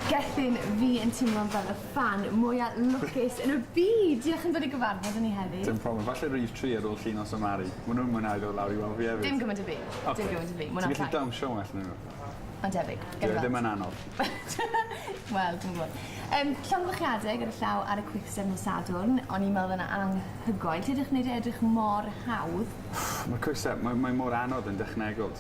Gethin, fi yn timlo'n fel y ffan mwya lwcus yn y byd! Diolch am dod i gyfarfod â ni heddi. Dim problem, falle rif tri ar ôl llinos a Mari. Ma' nhw'n mwynhau dod lawr i weld fi hefyd. Dim gymaint â fi. Oce. Dim gymaint â fi. Ti'n gallu dawnsio well na nhw. Mae'n debyg. Gawn weld. Dyw e ddim yn anodd. Wel, dwi'm yn gwbod. Yym, llongyfarchiadau gyda llaw ar y Quickstep nos Sadwrn, o'n i'n meddwl yna anhygoel. Ti edrych neud e edrych mor hawdd. Ma'r Quickstep, mae mae mor anodd yn dechnegol.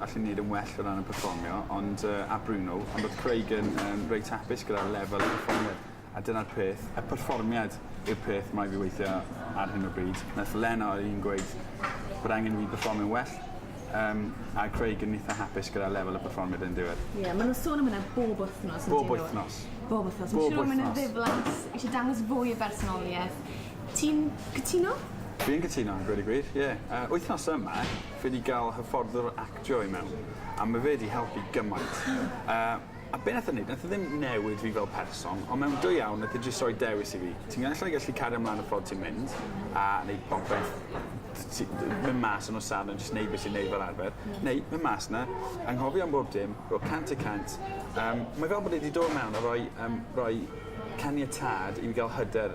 allwn ni neud yn well o ran y perfformio ond yy a Bruno ond odd Craig yn yym reit hapus gyda'r lefel y perfformiad a dyna'r peth y perfformiad yw'r peth mae fi weithio ar hyn o bryd. Nath Lena odd un gweud bod angen i fi perfformio'n well yym a Craig yn itha hapus gyda'r lefel y perfformiad yn diwedd. Ie ma' nw'n sôn am wnna bob wthnos on'd 'yn nw? Bob wythnos. Bob wythnos. Bob wythnos. Fi'n siŵr ma' 'na ddiflas isie dangos fwy o bersonolieth. Ti'n cytuno? Dwi'n cytuno gweud y gwir ie yy wythnos yma Fi 'di ga'l hyfforddwr actio i mewn a ma' fe 'di helpu gymaint. Yy a be' nath e neud nath e ddim newid fi fel person on' mewn dwy awr nath e jyst roi dewis i fi. Ti'n ga'l ella gallu cario mlan y ffordd ti'n mynd a neud popeth t- ti d- myn' mas yn nos Sadwrn jyst neud be' ti'n neud fel arfer neu myn' mas 'na anghofio am bob dim ro' cant y cant yym mae fel bod e 'di do' mewn a roi yym roi caniatâd i fi ga'l hyder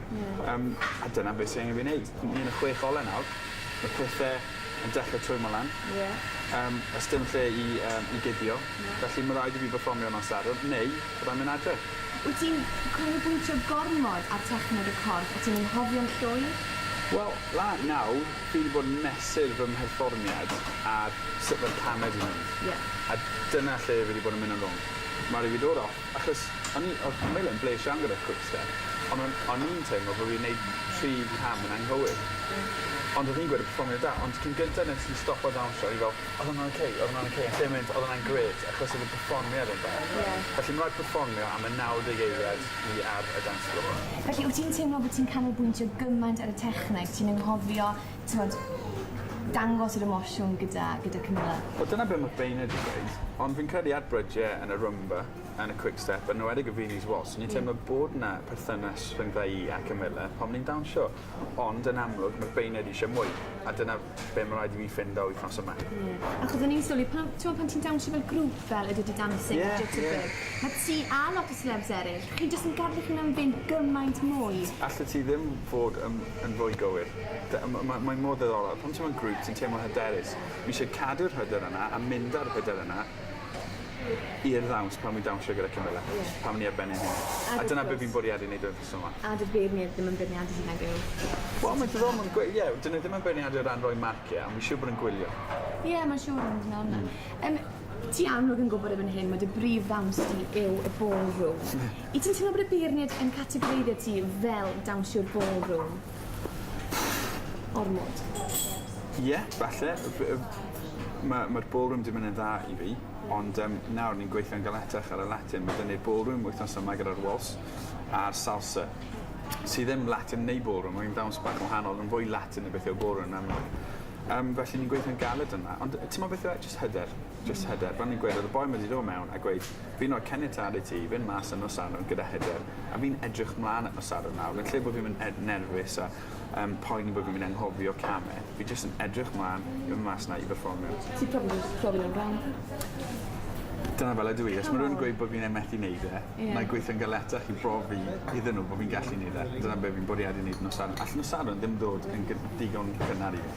Ie. Yym a dyna be' sy angen fi neud. Ni yn y chwech ole nawr. Ma' pethe yn dechre twymo lan. Ie. Yym o's dim lle i yym i guddio. Na. Felly ma' raid i fi berfformio nos Sadwrn neu byddai'n myn' adre. Wyt ti'n canolbwyntio gormod ar techneg y corff a ti'n anghofio'n llwyr? Wel, la nawr fi 'di bod yn mesur fy mherfformiad ar sut ma'r camau 'di mynd. Ie. A dyna lle fi 'di bod yn myn' yn rong. Ma' rai' fi dod off Achos o'n i... Odd Camilla yn blesh iawn gyda Quickstep, ond o'n o'n i'n teimlo bo' fi'n neud tri cam yn anghywir. Ond odd hi'n gweud y perfformiad da, ond cyn gynta nes i stopo dawnsio o'n i fel odd wnna'n oce odd wnna'n oce yn lle mynd odd wnna'n grêt achos odd y perfformiad yn dda. Ie. Felly ma' raid perfformio am y naw deg eiliad ni ar y dance floor. Felly wt ti'n teimlo bo' ti'n canolbwyntio gymaint ar y techneg ti'n anghofio t'mod dangos yr emosiwn gyda gyda Camilla. Wel dyna be' ma' Paine 'di gweud ond fi'n credu at Bridge yn y Roomba yn y Quickstep yn enwedig y Venus Waltz o'n i'n teimlo bod 'na perthynas rhyngddo i a Camilla pan o'n i'n dawnsio ond yn amlwg ma' Paine wedi isio mwy a dyna be' ma' raid i fi ffindo wythnos yma. Ie. Achos o'n i'n sylwi pan t'mo' pan ti'n dawnsio fel grŵp fel y Dirty Dancing... Ie ie. ...a Dirty Work ma' ti a lot o selebs eryll chi jyst yn gadel eich hunan fynd gymaint mwy. Allet ti ddim fod yn yn fwy gywir. D- a ma' ma' mae mor ddiddorol. Pan ti mewn grŵp ti'n teimlo hyderus. Fi isie cadw'r hyder yna a mynd â'r hyder yna i'r ddawns pan wi dawnsio gyda Camilla. Ie. Pan ni ar ben ein hunen. A wrth gwrs. A dyna be' fi'n bwriadu neud efo'r person 'ma. A do'dd beirnied ddim yn beirniadu hynna gyw? Wel mae'n diddorol ma'n gwe- ie 'dyn nw ddim yn beirniadu o ran roi marcie on' fi siŵr bod yn gwylio. Ie ma'n siŵr yn dod mewn 'na. Yym ti amlwg yn gwbod erbyn hyn ma' dy brif ddawns di yw y ballroom. Ie. Wyt ti'n teimlo bod y beirnied yn categoreiddio ti fel dawnsio ballroom? ormod o chips. Ie falle f- yym ma' ma'r ballroom 'di myn' yn dda i fi ond yym nawr ni'n gweithio'n galetach ar y Latin ma' 'da ni'r ballroom wythnos yma gyda'r Waltz a'r Salsa sy ddim Latin neu ballroom mae'n ddawns bach yn wahanol ma'n fwy Latin na beth yw'r ballroom yn amal. Yym felly ni'n gweithio'n galed yna ond yy t'mod beth yw e jyst hyder. jyst hyder, fel o'n i'n gweud odd y boi 'ma 'di do' mewn a gweud fi'n roi caniatâd i ti i fyn' mas ar nos Sadwrn gyda hyder a fi'n edrych mlan at nos Sadwrn nawr yn lle bo' fi'n myn' ed- nerfus a yym poeni bo' fi'n myn' anghofio came fi jyst yn edrych mlan i fyn' mas 'na i berfformio. Ti probably jyst profi o'n wrong. Dyna fel ydw i os ma' rywun yn gweud bo' fi'n yy methu neud e... Ie. ...mae gweithio'n galetach i brofi iddyn n'w bo' fi'n gallu neud e. Dyna be' fi'n bwriadu neud nos Sadwrn. All nos Sadwrn ddim ddod yn gyn- digon cynnar i fi.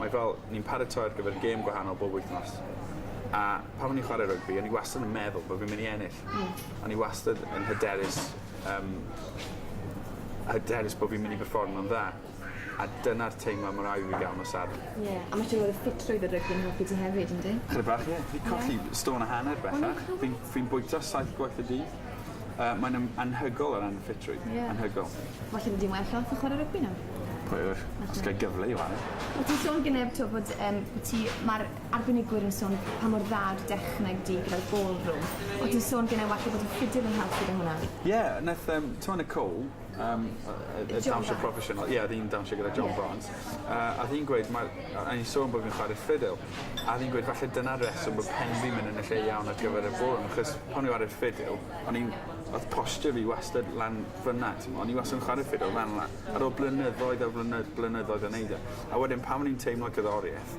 Mae fel, ni'n paratoi ar gyfer gêm gwahanol bob wythnos. A pan o'n i'n chwarae rygbi, o'n i wastad yn meddwl bod fi'n mynd i ennill. Mm. O'n i wastad yn hyderus, um, hyderus bod fi'n mynd i berfformio'n dda. A dyna'r teimlad mor awyr i gael nos Sadwrn. Ie, yeah. a mae siŵr oedd y ffitrwydd y rygbi yn helpu ti hefyd, ynddi? Chyda bach, ie. Yeah. Fi colli yeah. stôn a hanner bellach. Fi'n fi bwyta saith gwaith y dydd. Yy mae'n yym anhygoel o ran ffitrwydd. Ie. Anhygoel. Falle mynd i'n well off o chware rygbi nawr. Pwy a ŵyr? Os gai gyfle i 'ware. O' ti'n sôn gyne t'o' bod yym bo' ti ma'r arbenigwyr yn sôn pa mor dda yw'r dechneg di gyda'r ballroom. O' ti'n sôn gyne walle bod yn ffidil yn helpu 'da hwnna. Ie nath yym t'mo' Nicole yym yy yy dawnsio proffesiynol ie odd 'i'n dawnsio gyda John Barnes yy a odd 'i'n gweud ma' a o'n i'n sôn bo' fi'n chware ffidil a odd 'i'n gweud falle dyna'r reswm bo' pen fi'n myn' yn y lle iawn ar gyfer y ballroom achos pan o'n i ar y ffidil o'n i'n odd posture fi wastad lan fyn 'na t'mo' o'n i wastad yn chware ffidil lan lan. Ar ôl blynyddoedd ar flynyddoedd o neud e a wedyn pan o'n i'n teimlo cerddorieth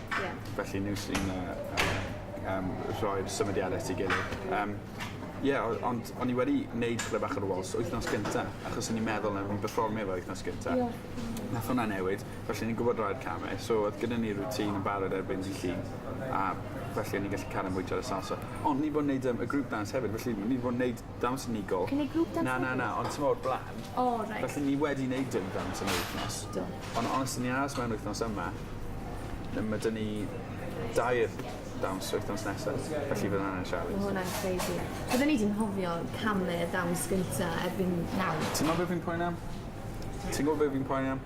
Ie. Felly nhw sy'n yy yy yym rhoi'r symudiad at ei gilydd. Yym ie o- ond o'n i wedi neud tipyn bach ar y wals wythnos gynta achos o'n i'n meddwl o'n i'n perfformio fo wythnos gynta. Ie. Nath hwnna newid felly o'n i'n gwbod rhoi came so odd gyda ni routine yn barod erbyn dydd Llun a felly o'n i'n gallu cario mwy tro ar y salsa. Ond ni 'di bod yn neud yym y group dance hefyd felly ni 'di bod yn neud Dawns unigol. Cynnig grŵp dawns Na na na ond t'mo' o'r bla'n. O reit. Felly ni wedi neud dim dawns yn yr wythnos. Do. On' os 'yn ni aros mewn wythnos yma yy ma' 'dyn ni dair dawns wythnos nesa felly fydd wnna'n sialens. Ma' hwnna'n crazy. Bydden ni 'di anghofio canu y dawns gynta erbyn nawr. T'mo' be' fi'n poeni am? Ti'n gwbo be' fi'n poeni am?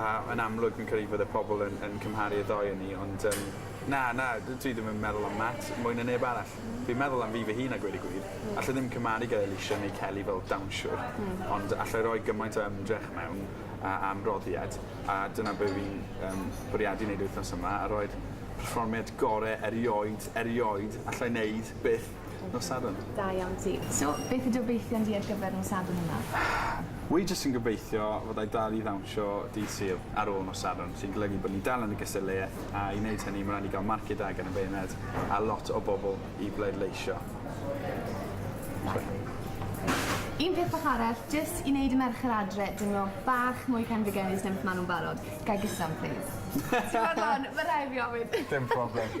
a yn amlwg fi'n credu bydde pobol yn yn cymharu y ddou o ni ond yym na na dw- dwi ddim yn meddwl am Matt mwy na neb arall. Hmm. Fi'n meddwl am fi fy hun a gweud y gwir. Hmm. Alla i ddim cymharu gyda Alesha neu Kelly fel dawnsiwr. Hmm. Ond alla i roi gymaint o ymdrech mewn a a ymroddiad a dyna be' fi'n yym bwriadu neud wythnos yma a roi'r perfformiad gore erioed erioed allai neud byth Nos Sadwrn. Da iawn ti. So, beth yw dy obeithion di ar gyfer nos Sadwrn yma? Wi jyst yn gobeithio fod ai dal i ddawnsio dydd Sul ar ôl nos Sadwrn, sy'n golygu bod ni dal yn y gystadleuaeth a i wneud hynny ma' raid ni gael marciau da gan y beirniaid a lot o bobl i bleidleisio. Un peth bach arall, jyst i wneud y merched adre deimlo bach mwy penfigennus na beth ma' nhw'n barod. Gai gyson plîs? Ti'n barod 'wan? Ma' rhai' fi ofyn. Dim problem.